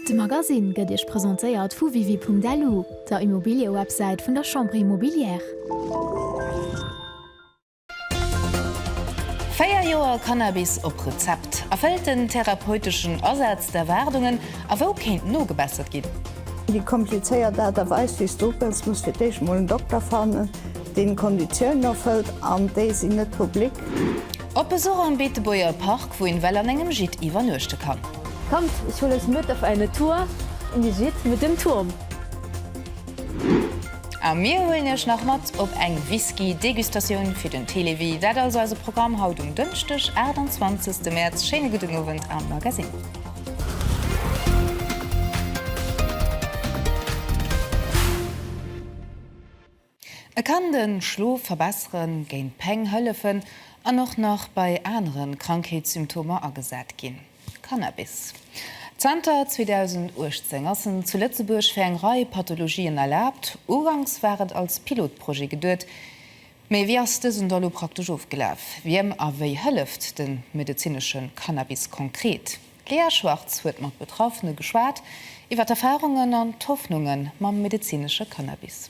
De Magasinn gëtt Iech presentéiert vu Wiwi.lu, der Immobiliëwebsäit vun der Chambre Immobilière. Véier Joer Cannabis op Rezept, erfëllt den therapeuteschen Asaz d'Erwaardungen a wou kéint nogebessert ginn? Déi komplizéiert Aart a Weis, wéi s du opgëss, muss fir d'éischt mol en Dokter fannen, deen d'Konditiounen erfëllt, an déi sinn net public. Op Besuch am Beetebuerger Park, wou een well an engem Gîte iwwernuechte kann. Kommt, ich hol euch mit auf eine Tour in die Gîte mit dem Turm! A mir huelen iech nach mat op eng Whisky Degustatioun fir den Télévie. Dat also eise Programm haut um Dënschdeg 28 März. Schéine gudden Owend am Magasinn. E kann de Schlof verbesseren, géint Péng hëllefen an och nach bei anere Krankheetssymptomer agesat ginn. Cannabis. Zanter 2018 ass en zu Lëtzebuerg fir eng Rei Pathologien erlaabt. Uganks war et als Pilotprojet geduet, mee wéi ass dësen da lo praktesch ofgelaf? Wiem a wéi hëlleft de medezinesche Cannabis konkret? D'Lea Schwartz huet mat Betraffene geschwat iwwer d'Erfarungen an d'Hoffnunge mam medezinesche Cannabis.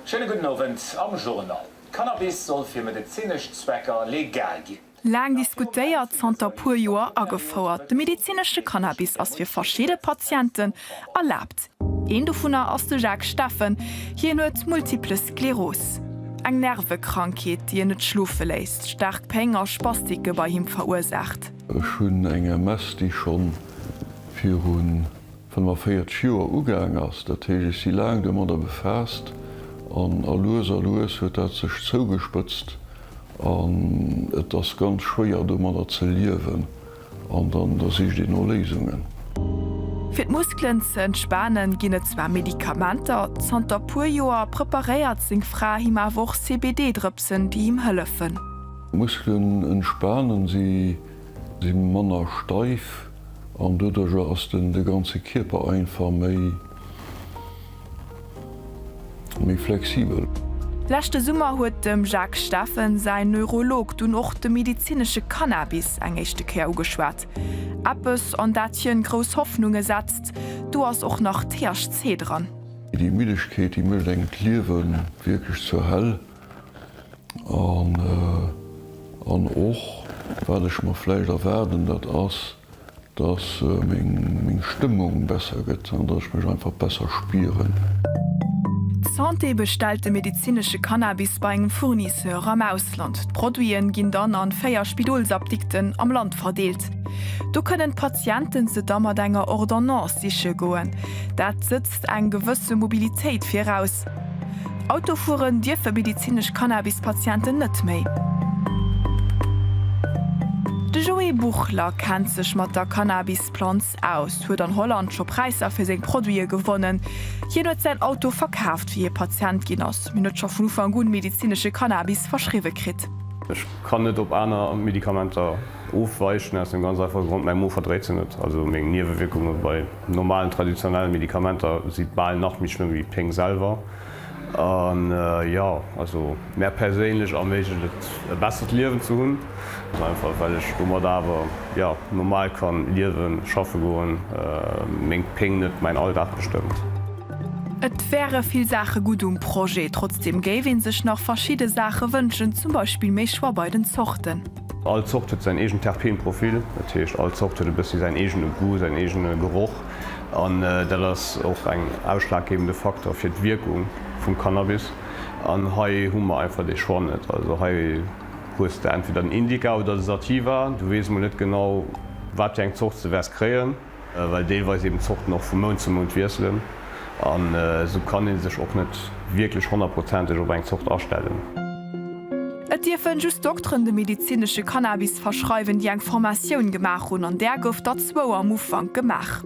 Schéine gudden Owend am Journal. Cannabis soll fir medezinesch Zwecker legal ginn. Laang diskutéiert, zanter puer Joer agefouert, de medezinesche Cannabis ass fir verschidde Patienten erlaabt. Een dovunner ass de Jacques Steffen. Hien huet Multiple Skleros, eng Nervekrankheet, déi en net schlofe léisst, staark Péng a Spastike bei him verursaacht. Ech hunn eng MS, déi scho viru 45 Joer ugaang ass. Dat heescht, ech si laang domadder befaasst an a lues a lues huet dat sech zougespëtzt an et ass ganz schwéier domadder ze liewen. An dann da sicht een no Léisungen. Fir d'Muskelen ze entspanen ginn et zwar Medikamenter, zanter puer Joer preparéiert seng Fra him awer och CBD-Drëpsen, déi him hëllefen. Muskelen entspanen, si si manner steif an doduercher ass den de ganze Kierper einfach méi. Méi flexibel. Leschte Summer huet dem Jacques Steffen säin Neurolog dunn och de medezinesche Cannabis eng éischte Kéier ugeschwat. Eppes, an dat hien grouss Hoffnunge setzt. Do ass och nach THC dran. Déi Middegkeet, déi mécht engem d'Liewe wierklech zur Hell. An och, wat ech mer vläicht erwaarden, dat ass. Dass meng Stëmmung besser gëtt an dass ech mech einfach besser spieren. D'Santé bestellt de medezinesche Cannabis bei engem Fournisseur am Ausland. D'Produiten ginn dann an 4 Spidolsapdikten am Land verdeelt. Do kënnen d'Patienten se da mat enger Ordonnance siche goen. Dat sëtzt eng gewësse Mobilitéit viraus. Auto fueren dierfe medizinesch Cannabis-Patienten net méi. De Joé Buchler kennt sech mat der Cannabis-Planz aus, huet an Holland scho Präisser fir seng Produite gewonnen. Hien huet säin Auto verkaaft, wéi hie Patient ginn ass, mee huet scho vun Ufank un medizinesche Cannabis verschriwwe kritt. Ech kann net op aner Medikamenter ofweichen, aus dem ganz einfache Grond, mäi Mo verdréit se net. Also meng Niewewierkunge bei normalen, traditionelle Medikamenter si bal nach méi schlëmm wéi d'Péng selwer. An jo, also mär perséinlech erméiglecht et e bessert Liewen ze hunn, ganz einfach well ech domat awer jo normal kann liewen, schaffe goen, meng Péng net mäin Alldag bestëmmt. Et wäre vill Saache gutt um Projet, trotzdeem géif ee sech nach verschidde Saache wënschen, zum Beispill méi Choix bei den Zorten. All Zort huet säin eegent Terpeenprofil, dat heescht all Zort huet e bëssi säin eegene Goût, säin eegene Geroch an dat ass och eng ausschlaggebende Faktor fir d'Wierkung vum Cannabis an hei hu mer einfach dee Choix net. Also hei hues de entweder den Indica oder de Sativa, du weess mol net genau wat fir eng Zort s de wäers kréien. well deelweis eben d'Zorten och vu Mount zu Mount wiesselen an esou kann ee sech och net wierklech honnertprozenteg op eng Zort astellen. Et dierfe just Dokteren de medezinesche Cannabis verschreiwen, déi eng Formatioun gemaach hunn, an där gouf der zwou am Ufank gemaach.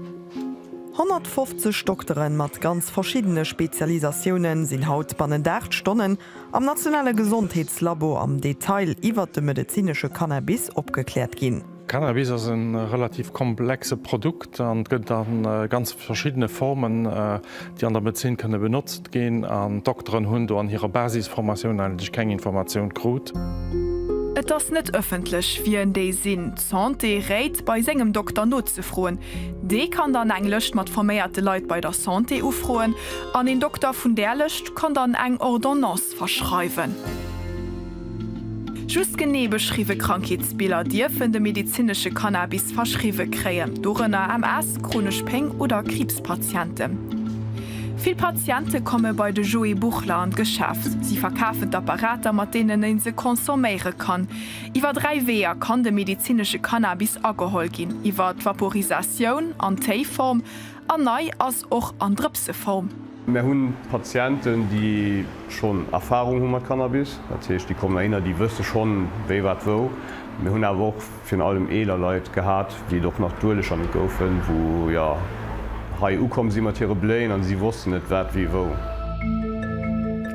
150 Doktere mat ganz verschiddene Spezialisatioune sinn haut bannent 8 Stonnen am nationale Gesondheetslabo am Detail iwwert de medezinesche Cannabis opgekläert ginn. Cannabis ass e relativ komplexe Produkt an et gëtt a ganz verschiddene Formen, déi an der Medezin kënne benotzt ginn. An d'Dokteren hunn do an hirer Basisformatioun eigentlech keng Informatioun krut. Et ass net ëffentlech, wien déi sinn. D'Santé réit, bei sengem Dokter nozefroen. Dee kann dann eng Lëscht mat forméierte Leit bei der Santé ufroen an een Dokter vun där Lëscht kann dann eng Ordonnance. verschreiwen. Just genee beschriwwe Krankheetsbiller dierfen de medezinesche Cannabis verschriwwe kréien, dorënner MS, chronesch Péng oder Kriibspatienten. Vill Patiente komme bei de Joé Buchler an d'Geschäft. Si verkafen d'Apparater, mat deenen e se consomméiere kann. Iwwer dräi Weeër kann de medezinesche Cannabis ageholl ginn, iwwer d'Vaporisatioun an d'Téiform, A nei ass och an Drëpseform. Mär hunn Patienten, déi schonn Erfarung hu mat Cannabis. Dat heescht, déi kommen heihinner, déi wësse schonn, wéi, wat, wou. Mir hunn awer och virun allem eeler Leit gehat, déi et och nach duerlech an et goufen, wou, jo, hei ukomm si mat hire Bléien a si wossten net, wat, wéi, wou.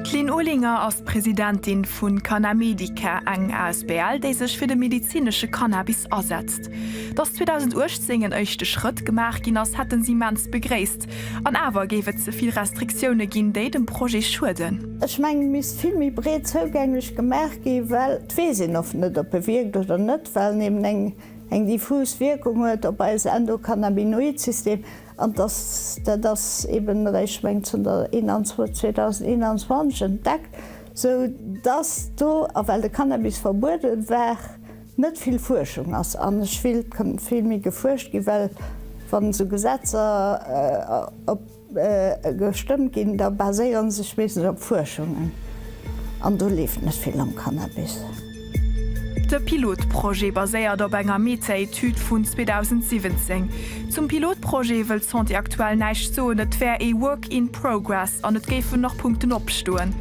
D'Lynn Olinger ass d'Presidentin vu Canamedica, eng asbl, déi sech fir de medezinesche Cannabis asetzt. Aarbecht. Datt 2018 en éischte Schrëtt gemaach ginn ass, hätten se immens begréisst. An awer géif et ze vill Restriktioune ginn, déi dem Projet schueden. Ech mengen, et misst vill méi breet zougänglech gemaach ginn, well et weess een oft net, ob e wierkt oder net, well en eben eng diffus Wierkung huet op eis Endokannabinoid-System. An datt dat ass eben eréischt, ech mengen, zënter 2021 entdeckt, sou datt do, a well de Cannabis verbuede war, Net vill Fuerschung ass, an ech will, et kënnt vill méi gefuerscht ginn, well wann esou Gesetzer op gestëmmt ginn, da baséieren sech meeschtens op Fuerschungen, an do leeft net vill am Cannabis. De Pilotprojet baséiert op enger Meta-Etüd vun 2017. Zum Pilotprojet wëll d'Santé aktuell näischt soen, et wär ee Work in progress an et géifen nach Punkten opstoen.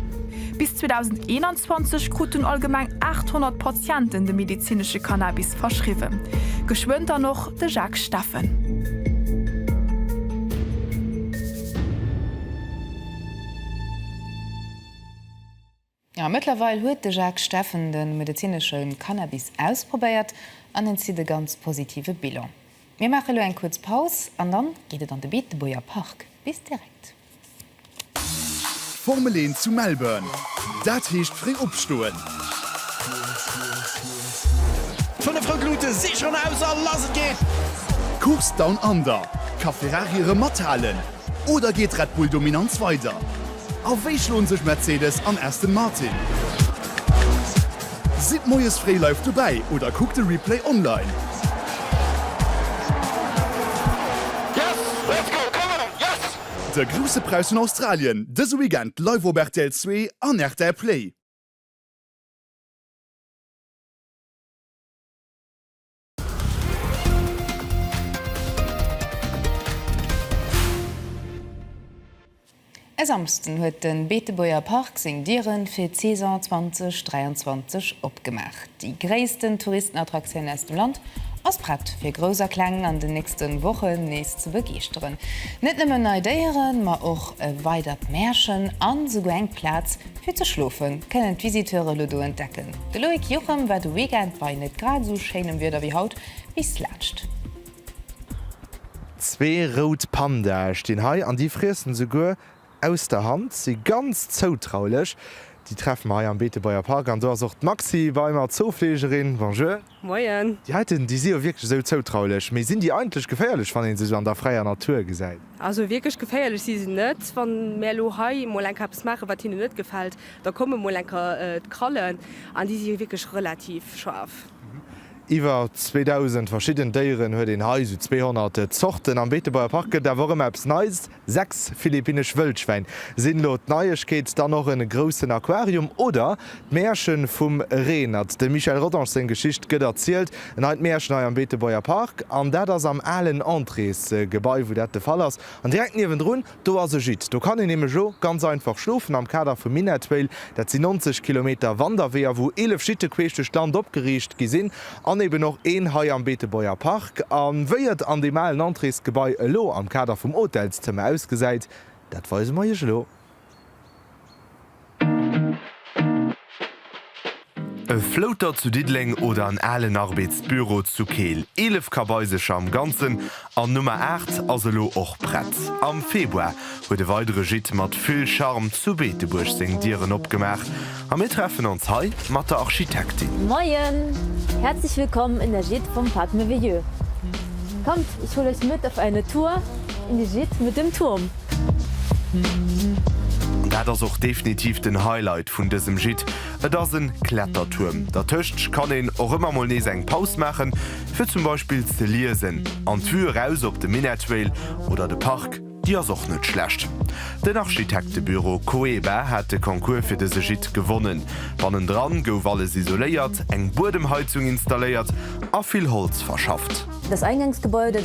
Bis 2021 kruten allgemeng 800 Patienten de medezinesche Cannabis verschriwwen. Geschwënn dann och de Jacques Steffen. Jo, mëttlerweil huet de Jacques Steffen de medezinesche Cannabis ausprobéiert an en zitt e ganz positive Bilan. Mir maache lo eng kuerz Paus an dann geet et an de Beetebuerger Park. Bis direkt. Formel 1 zu Melbourne, dat heescht fréi opstoen! Fënnef rout Lute si schonn aus a lass et geet! D'Course Down Under, ka Ferrari erëm mathalen oder geet d'Red Bull Dominanz weider? A wéi schloen sech Mercedes an Aston Martin? Sidd moies fréi live dobäi oder kuckt de Replay online. De grousse Präis vun Australien dëse Weekend live op rtl Zwee an rtl Play. E Samsden huet de Beetebuerger Park seng Diere fir d'Saison 2023 opgemaach. Déi gréissten Touristenattraktioun aus dem Land ass prett, fir Grouss a Kleng an den nächste Wochen nees ze begeeschteren. Net nëmmen nei Déieren, ma och e weidert Märchen an esouguer eng Plaz, Fir ze schlofen kënnen d'Visiteure lo do entdecken. De Loïc Juchem war de Weekend bei net grad esou schéinem Wieder wéi haut bis d'lescht. Zwee rout Pandae stinn hei an déi friessen esouguer aus der Hand, si ganz zoutraulech. Déi treffe mer hei am Beetebuerger Park an do ass och d'Maxi bei mer, d'Zoofleegerin. Bonjour. Moien. Déi heiten, déi si jo wierklech esou zoutraulech. Mee sinn déi eigentlech geféierlech, wann ee se esou an der fräier Natur gesäit? Also wierklech geféierlech si se net. Wann mär elo hei emol enker eppes maachen, wat hinnen net gefält, da kommen emol enker d'Krallen. An déi si jo wierklech relativ schaarf. Iwwer 2.000 verschidden Déieren huet een hei, esou 200 Zorten. Am Beetebuerger Park gëtt et awer och ëmmer eppes Neies, Sechs philippinnesch Wëllschwäin sinn elo d'Neiegkeet, dann och en groussen Aquarium oder d'Mäerchen vum Reenert. Dem Michel Rodange seng Geschicht gëtt erzielt, en neit Mäerchen hei am Beetebuerger Park, an dat ass am alen Entréesgebai wou dat de Fall ass. An direkt niewendrun, do ass e Gîte, do kann een nämlech elo ganz einfach schlofen am Kader vum Minettrail. Dat sinn 90 Kilometer Wanderweeër wou 11 Gîte queesch duerch d'Land opgeriicht gi sinn An eben och een hei am Beetebuerger Park. A wéi et an deem alen Entréesgebai elo am Kader vum Hotelszëmmer ausgesäit, dat weise mer Iech elo. E Flouter zu Diddeleng oder en alen Arbeetsbüro zu Keel. Eelef Kabaisercher am Ganzen An Nummer 8 ass elo och prett. Am Februar huet e weidere Gîte mat vill Charme zu Beetebuerg seng Dieren opgemaach a mir treffen ons hei mat der Architektin. Moien! Herzlich willkommen in der Gîte vom Parc Merveilleux. Kommt, ich hol euch mit auf eine Tour in die Gîte mit dem Turm. An dat ass och definitiv den Highlight vun dësem Gîte, et ass en Klettertuerm. Dertëscht kann een och ëmmer mol nees eng Paus maachen. fir zum Beispill ze liesen, an d'Vue eraus op de Minettville oder de Park, déi ass och net schlecht. Den Architektebüro Coeba hat de Concours fir dëse Gîte gewonnen. Bannendran gouf alles isoléiert, eng Buedemheizung installéiert a vill Holz verschafft. Dës Eingangsgebäude.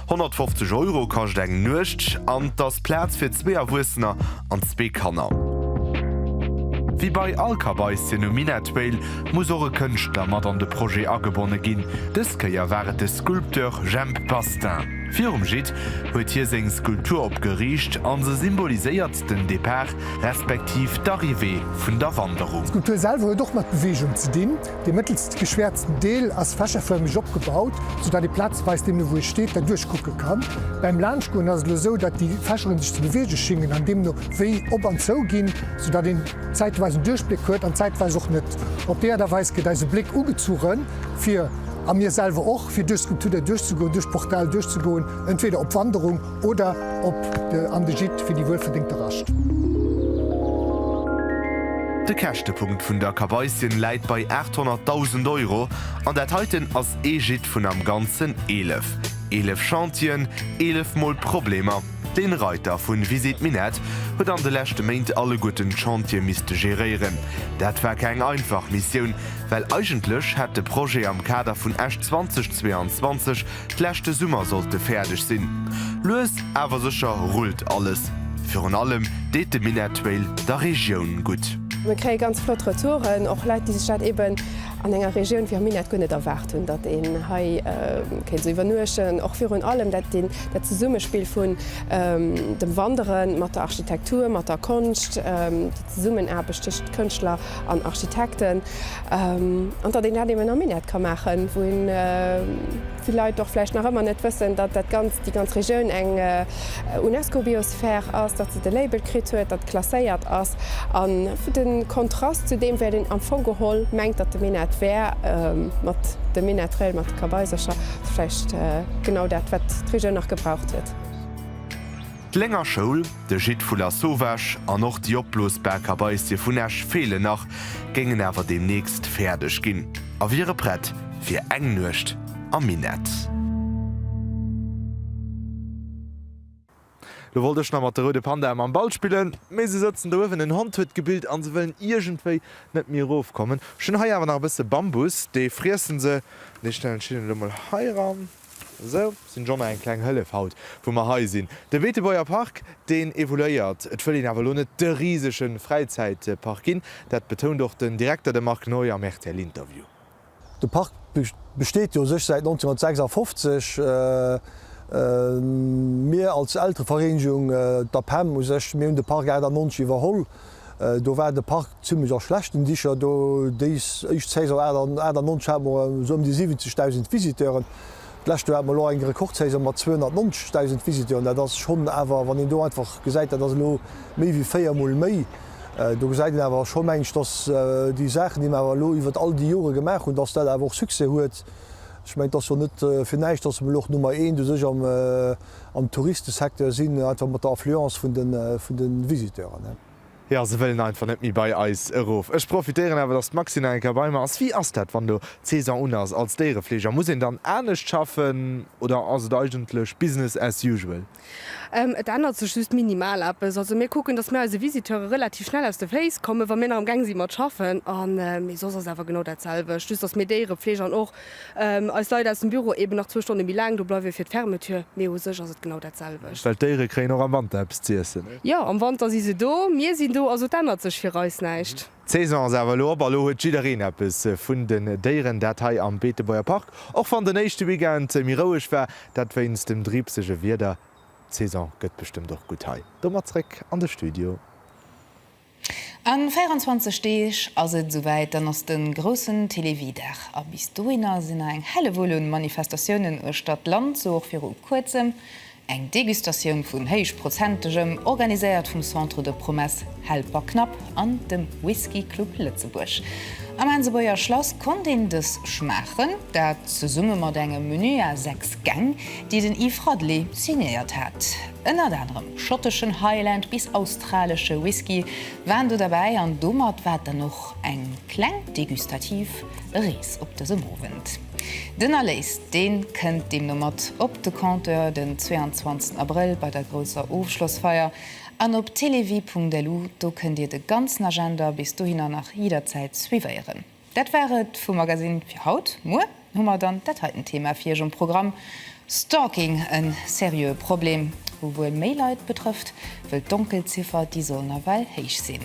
150 Euro kascht eng Nuecht an et ass Plaz fir zwee Erwuessener an zwee Kanner. Wéi bei all Kabaissien um Minettville muss och e Kënschtler mat an de Projet agebonne ginn. Dës Kéier war et de Sculpteur Jhemp Bastin. Virum Gîte huet hie seng Skulptur opgeriicht an se symboliséiert den Depart respektiv d'Arrivée vun der Wanderung. D'Skulptur selwer huet och mat Beweegung ze dinn. Dee mëttelst geschwäerzten Deel ass fächerförmeg opgebaut, sou dat ee plazeweis deemno wou ee steet derduerch kucke kann. Bäim Laanschtgoen ass et elo sou, dat déi Fächeren sech ze beweege schingen an deemno wéi op an zou ginn, sou dat een zäitweis en Duerchbléck huet an zäitweis och net. Op déi Aart a Weis gëtt eise Bléck ugezuche fir, a mir selwer och, fir duerch d'Skulptur derduerch ze goen, duerch d'Portal duerch ze goen, entweder op Wanderung, Oder op de an de Gîte fir déi wuel verdéngte Rascht. De Käschtepunkt vun der Kaweisjen läit bei 800.000 Euro an dat heiten ass ee Gîte vun am ganzen 11. Eelef Chantieren, eelef mol Problemer. Den Reiter vun Visite Minett huet an de leschte Méint alleguerten d'Chantier misste geréieren. Dat war keng einfach Missioun, well eigentlech hätt de Projet am Kader vun Esch 2022 Leschte Summer sollt e fäerdeg sinn. Lues awer sécher rullt alles. Virun allem deet de Minettrail der Regioun gutt. Mir kréie ganz flott Retouren, och Leit, déi sech dat eben an enger Regioun wéi am Minett guer net erwaart hunn, datt een hei kéint esou iwwernuechten. Och virun allem dat Zesummespill vun dem Wanderen mat der Architektur, mat der Konscht, déi Zesummenaarbecht tëschent Kënschtler an Architekten. An datt een dat eben am Minett ka maachen, wou een, vill Leit och vläicht nach ëmmer net wëssen, datt dat Ganzt, déi ganz Regioun eng UNESCO-Biosphere ass, datt se de Label kritt huet, datt klasséiert ass. A de Kontrast zu deem wäert een am Fong geholl mengt, datt de Minett wär, mat dem Minett Rail, mat de Kabaisercher, vläicht genau dat, wat d'Regioun nach gebraucht huet. D'Lénger Schoul, de Gîte vu Lasauvage an och déi opblosbar Kabaissie vun Esch feelen nach, géingen awer deemnächst fäerdeg ginn a wiere prett fir eng Nuecht am Minett. Lo wollt ech nach mat de roude Pandae mam Ball spillen, mee se sëtzen do uewen, en Hond huet gebillt a se wëllen iergendwéi net méi erofkommen. Ech hunn hei awer nach e bësse Bambus, dee friessen se. Dee stellen ech hinnen elo mol heiran. Sou sinn Jonner eng kleng Hëllef haut wou mer hei sinn. De Beetebuerger Park deen evoluéiert. Et wëll een awer elo net de risege Fräizäitpark ginn. Dat betount och den Direkter, de Marc Noy am rtl Interview. De Park besteet jo u sech säit 1956. Mir als Elterevereenegung, d'APEM u sech, mir hunn de Park 98 iwwerholl. Do war de Park zimmlech a schlechten Dicher. Déis éischt Saison 98 hate mer esou ëm déi 70.000 Visiteuren. D'lescht Joer hate mer elo eng Rekordsaison mat 290.000 Visiteuren. Dat ass schonn awer, wann een do einfach gesäit, dat ass elo méi wéi véiermol méi. Do gesäit een awer scho, meng ech, datt déi Saachen, déi mer awer elo iwwert all déi Jore gemaach hunn, datt dat awer och Succès huet. Ech mengen, et ass jo net fir näischt, datt mer elo och Nummer eent u sech am. Am Touristesecteur sinn, einfach mat der Affluence vun de, vun de Visiteuren. Jo, se wëllen einfach net méi bei eis erof. Ech profitéieren awer, dass d'Maxine nach eng Kéier bei mer ass. Wéi ass dat, wann elo d'Saison un ass als Déierefleeger? Muss een dann anescht schaffen oder ass et eigentlech business as usual? Et ännert sech just minimal eppes. Also mir kucken, dass mir eise Visiteure relativ schnell aus de Féiss kommen, wa mir nach amgaang si mat schaffen. A mee soss ass awer genau dat selwecht, just dass mir Déierefleeg an och Eis Leit aus dem Büro eben nach zwou Stonne méi laang do bleiwe fir d'Fermeture, mee u sech ass et genau dat selwecht. Well d'Déiere kréien och am Wanter eppes z'iessen. Jo, am Wanter si se do, mir sinn do, also et ännert sech fir eis näischt. D'Saison ass awer elo op a lo huet jiddereen eppes vun den Déieren, dat hei am Beetebuerger Park, och wann den éischte Weekend méi roueg war, dat wéinst dem driibsege Wieder. D'Saison gëtt bestëmmt och gutt hei. Domat zréck an de Studio. A 24 Deeg ass et esouwäit, dann ass de groussen Télévie-Dag. A bis dohinner sinn nach eng Hellewull un Manifestatiounen uechter d'Land, sou och viru kuerzem eng Degustatioun vun Héichprozentegem, organiséiert vum Centre de Promesses Helper Knapp an dem Whisky Club Lëtzebuerg. Am Aansebuerger Schlass konnt een dës schmaachen, dat zesumme mat engem Menü à 6 Gäng, déi den Yves Radely signéiert hat. Ënnert anerem schotteschen Highland bis australesche Whisky waren do derbäi an domat war et dann och eng kleng degustativ Rees op dësem Owend. Den Erléis dee kënnt deemno mat op de Compteur den 22 Abrëll bei der grousser Ofschlossfeier an op televie.lu. Do kënnt Dir de ganzen Agenda bis dohinner nach jidderzäit suivéieren. Dat war et vum Magasinn fir haut. Muer hu mer dann dat heiten Thema fir Iech um Programm, Stalking, e seriöe Problem, wou wuel méi Leit betrëfft, wëll d'Donkelziffer, déi soll nawell héich sinn.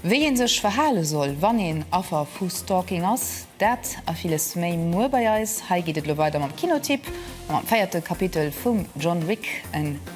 Wéi ee sech verhale soll, wann een Affer vu Stalking ass, dat a villes méi muer bei eis. Hei geet et elo weider mam Kinotipp a mam véierte Kapitel vum John Wick, en.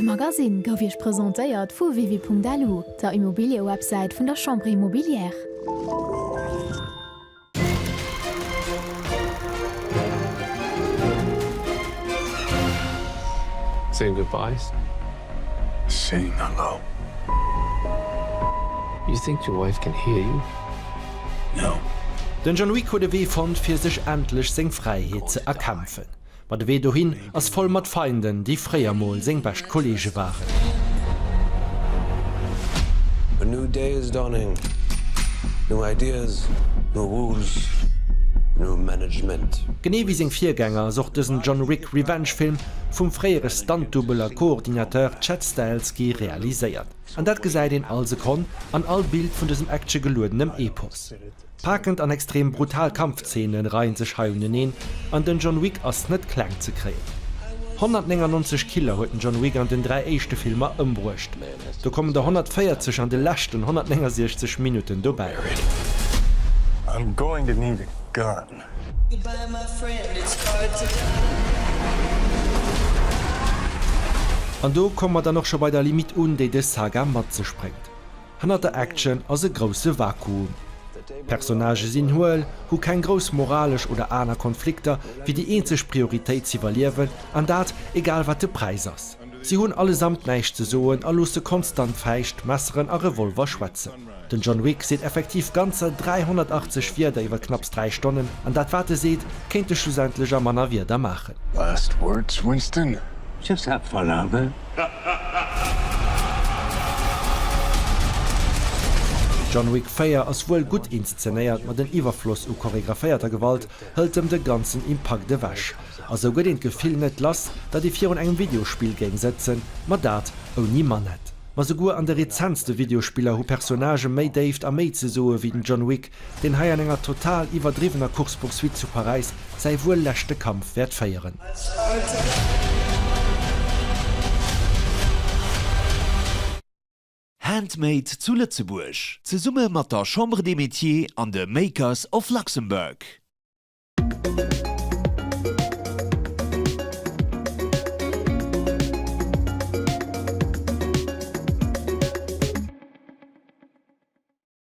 De Magasinn gouf Iech presentéiert vu Wiwi.lu, der Immobiliëwebsäit vun der Chambre Immobilière. Den Jean-Louis Codevée fonnt fir sech endlech seng Fräiheet ze erkämpfen. Ma de Wee dohin ass voll mat Feinden, déi fréier mol seng bescht Kolleege waren. A new day is dawning, new ideas, new rules, new management. Genee wéi seng Virgänger ass och dësen John Wick Revenge-Film vum fréiere Stunt-Dubbel a Koordinateur Chad Stahelski realiséiert. An dat gesäit een all Sekonn an all Bild vun dësem Action-geluedenem Epos. Paakend an extrem brutal Kampfzeene reien sech hei uneneen, an den John Wick ass net kleng ze kréien. 199 Killer huet den John Wick an den dräi éischte Filmer ëmbruecht. Do kommen der 140 an de leschten 169 Minutten dobäi. An do komme mer dann och scho bei der Limite un, déi dës Saga mat sech bréngt. Hannert der Action ass e grousse Vakuum. D'Personnagë sinn huel, hu keng grouss moralesch oder aner Konflikter, fir déi eenzeg Prioritéit z'iwwerliewen, an dat egal wat de Präis ass. Si hunn allesamt näischt ze soen a loosse konstant Fäischt, Messeren a Revolver schwätzen. Den John Wick seet effektiv ganzer 380 Wierder iwwer knapps dräi Stonnen, an dat wat e seet, kéint e schlussendlech a manner Wierder maachen. Last words, Winston? Just that one, Arthur. John Wick 4 ass wuel gutt inszenéiert, ma den Iwwerfloss u choregraphéierter Gewalt hëlt em de ganzen Impakt ewech. A sou gëtt een d'Gefill net lass, datt ee virun engem Videospill géing sëtzen, ma dat ouni Manett. Ma souguer an de rezentste Videospiller hu Personnagë méi Déift a méi ze soe wéi den John Wick, deen hei an enger total iwwerdriwwener Course-poursuite zu Paräis säi wuel leschte Kampf wäert féieren. Handmade zu Lëtzebuerg, zesumme mat der Chambre des Métiers an de Makers of Luxembourg.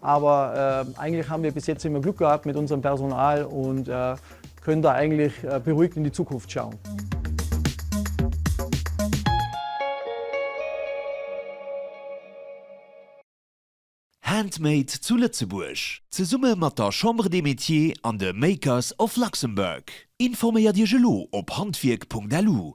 Aber eigentlich haben wir bis jetzt immer Glück gehabt mit unserem Personal und können da eigentlich beruhigt in die Zukunft schauen. Handmade zu Lëtzebuerg, zesumme mat der Chambre des Métiers an de Makers of Luxembourg. Informéiert Iech elo op handwierk.lu.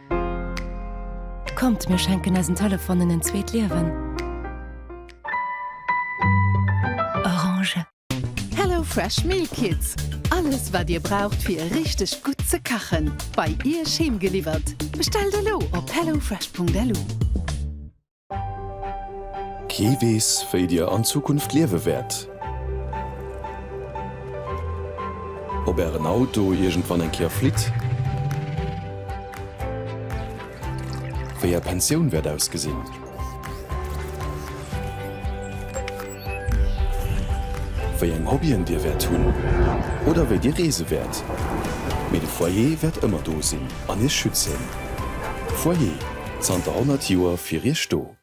Kommt, mir schenken eisen Telefonen en zweet Liewen. Orange. Hello Fresh Meal Kits, alles wat dir braucht fir richteg gutt ze kachen, bei Iech heem geliwwert. Bestellt elo op hellofresh.lu. Kee weess, wéi Dir an Zukunft liewe wäert. Ob Ären Auto iergendwann eng Kéier flitt, wéi Är Pensioun wäert ausgesinn. wéi eng Hobbyen Dir wäert hunn oder wéi Dir reese wäert, mee de Foyer wäert ëmmer do sinn an Iech schützen. Foyer, zanter 100 Joer fir Iech do.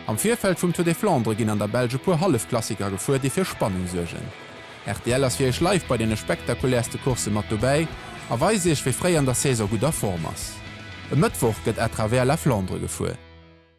Am Virfeld vum Tour des Flandres ginn an der Belsch e puer Hallefklassiker gefuer, déi fir Spannung suergen. Rtl ass fir Iech live bei deene spektakuläerste Coursse mat dobäi a weist Iech, wie fréi an der Saison gutt a Form ass. E Mëttwoch gëtt à travers la Flandre gefuer.